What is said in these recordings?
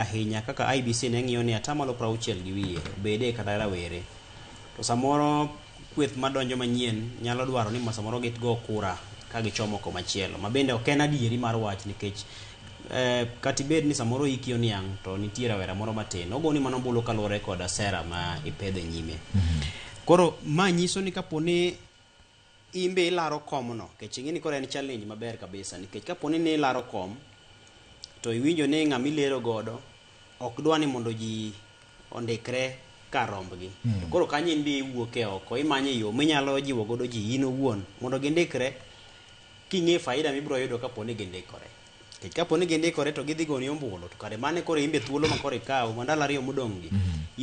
ahinya kaka IBC ne ng'iyo ni atamalo prauchiel gi wiye obede kata rawere. To samoro kweth madonjo manyien nyalo dwaro ni samoro gitgo kura ka gichomo komachielo. Ma bende ok en adieri mar wach nikech eh, kata ibed ni samoro iki oniang' to nitie rawera moro matin. Ogoni mana ombulu kaluwore koda sera ma ipedho e nyime. Koro ma nyiso ni kapo ni in be ilaro kom no kech ing'e ni koro en challenge maber kabisa nikech kapo ni ne ilaro kom to iwinjo ni ng'ama ilero godo ok dwa ni mondo ji ondikre kar rombgi to koro kanyo in be iwuok e oko imanyo yo minyalo jiwo godo ji in owuon mondo gindikre king'e faida mibiro yudo kapo ni gindikore nikech kapo ni gindikore to gidhi goni ombulu to kare mane koro in be thuolo ma koro ikawo ma ndalo ariyo modong' gi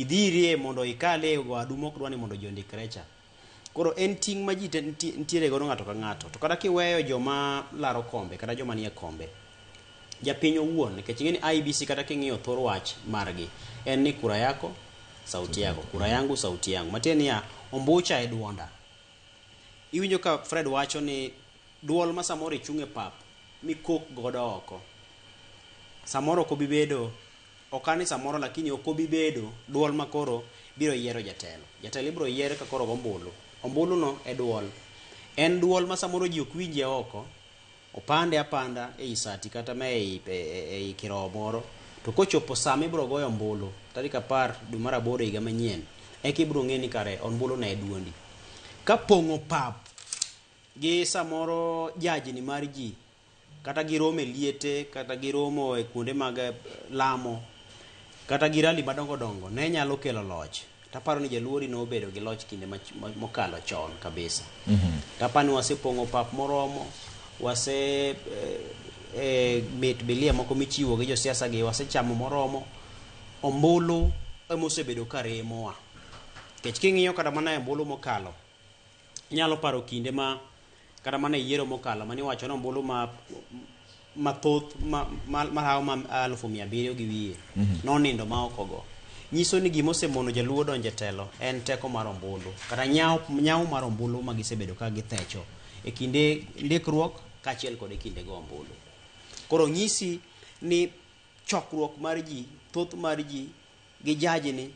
idhi irie mondo ikale e wadu mok dwa ni mondo ji ondikre cha Koro en ting' ma ji te nti- nitiere godo ng'ato ka ng'ato. To kata kiweyo joma laro kombe kata joma nie kombe, japiny owuon nikech ing'e ni IEBC kata king'iyo thor wach margi en ni kura yako sauti yako, kura yangu sauti yangu. Matiende niya, ombucha e duonda. Iwinjo ka Fred wacho ni duol ma samoro ichung' e pap mikok godo oko, samoro ok obi bedo Ok ane samoro lakini ok obi bedo duol ma koro biro yiero jatelo. Jatelo ibiro yier ka koro ogo ombulu. Ombulu no e duol. En duol ma samoro ji ok winjie oko, opande apanda e yi sati kata ma e yi e, e, e yi kirowo moro. To kochopo sama ibiro goyo ombulu, tarik apar dwe mar aboro higa manyien, eka ibiro ng'e ni kare ombulu no e duondi. Ka pong'o pap gi samoro jajni mar ji, kata gi romo e liete kata gi romo e kuonde mag eh, lamo kata gi rali madongo dongo ne nyalo kelo loch taparo ni jaluori ne obedo gi loch kinde mach- mo- mokalo chon kabisa tapa ni wasepong'o pap moromo wase eh, eh, mit bilia moko michiwo gi josiasa gi wasechamo moromo ombulu emosebedo ka remowa kech king'iyo kata mana e ombulu mokalo Anyalo paro kinde ma kata mana e yiero mokalo mane iwacho ni ombulu ma mathoth mahawo ma alufu mia abiriyo gi wiye mhm. nonindo ma ok ogo nyiso ni gima osemono jaluo donjo e telo en teko mar ombulu kata nyawo mar ombulu ma gisebedo ka githecho e kinde ndikruok kaachiel kod e kinde go ombulu koro nyisi ni chokruok mar ji thoth mar ji gi jajni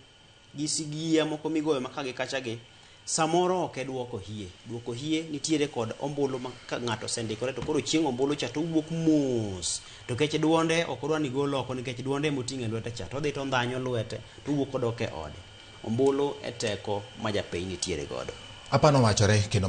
gi sigiya moko migoyo maka gi kacha gi samoro ok e duoko hie duoko hie nitiere kod ombulu ma ka ng'ato osendikore to koro chieng' ombulu cha to owuok mos to kech duonde ok odwa ni gol oko nikech duonde ema oting'o e lwete cha to odhi to ondhanyo lwete to owuok odok e ode ombulu e teko ma japiny nitiere godo Apani owachore kendo